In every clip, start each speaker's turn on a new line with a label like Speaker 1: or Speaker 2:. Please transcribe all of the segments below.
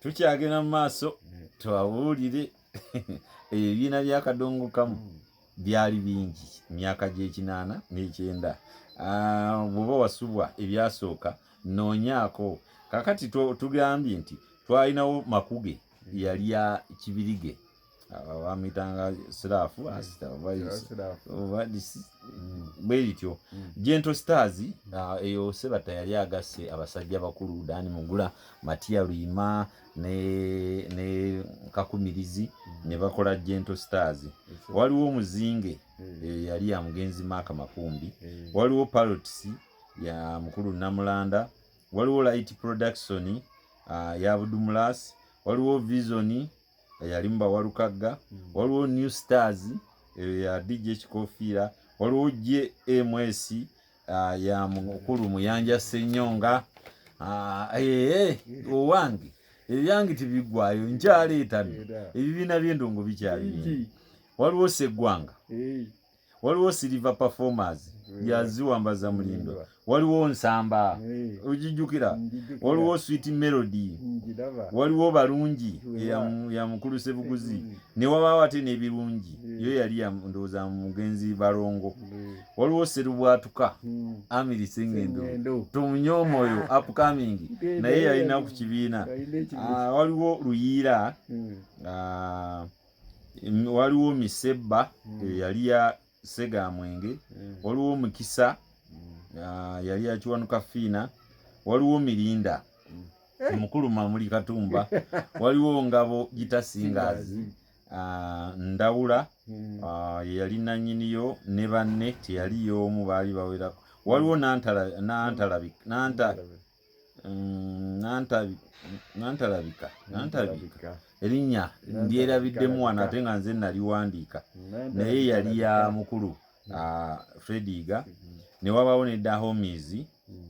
Speaker 1: tukyagenda mu maaso twawulire ebibiina byakadongo kamu hmm. byali bingi myaka gyekinaana nekyenda ah, bwoba wasubwa ebyasooka noonyaako kakati tugambye nti twalinawo makuge yali ya kibirige bamitanga sirafu obadisi mm. bwe lityo mm. gento stars ah, eyo sebata yali agasse abasajja bakulu dani mugula matiya luyima ne, ne kakumirizi mm. ne bakola gento stars waliwo omuzinge eh, yali ya mugenzi maaka makumbi waliwo palots ya mukulu namulanda waliwo light production ah, ya budumulasi waliwo visoni eyalimu bawalukagga hmm. waliwo new stars eyo ya dj ekikofiira waliwo jms ah, ya mukulu muyanja senyonga ah, eh, eh, owange ebyange tibigwayo nkyaleetano ebibiina byendongo bikyabingi waliwo seggwanga waliwo silver performers mm. yaziwambaza mulindo mm. waliwo nsamba mm. ojijukira waliwo sweet melody waliwo balungi ya mukulu sebuguzi newabawo ate nebirungi yo yali ndowooza mugenzi balongo waliwo serubwatuka amiri sengendo tomunya omwoyo upcoming naye yalina ku kibiina ah, waliwo luyiira ah, waliwo misebba mm. eyali ya segamwenge mm. waliwo mukisa mm. ah, yali yakiwanuka fiina waliwo mirinda eh. mukulu mamuli katumba waliwo ngabo gitasingazi ah, ndawula ah, yeyali nanyiniyo ne banne teyali yomu baali bawerako waliwo nantala nantala nantala mm, nantalabika nantalabika erinnya ndyerabiddemu wano ate nga nze naliwandiika naye yali ya mukulu mm. ah, frediga mm. ne wabaawo ne dahomis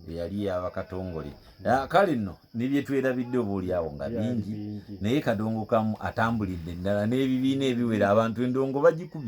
Speaker 1: eyali yabakatongole ah, kale nno nebyetwerabidde obaolyawo nga bingi naye kadongo kamu atambulidde ddala n'ebibiina ebiwera abantu endongo bagikubye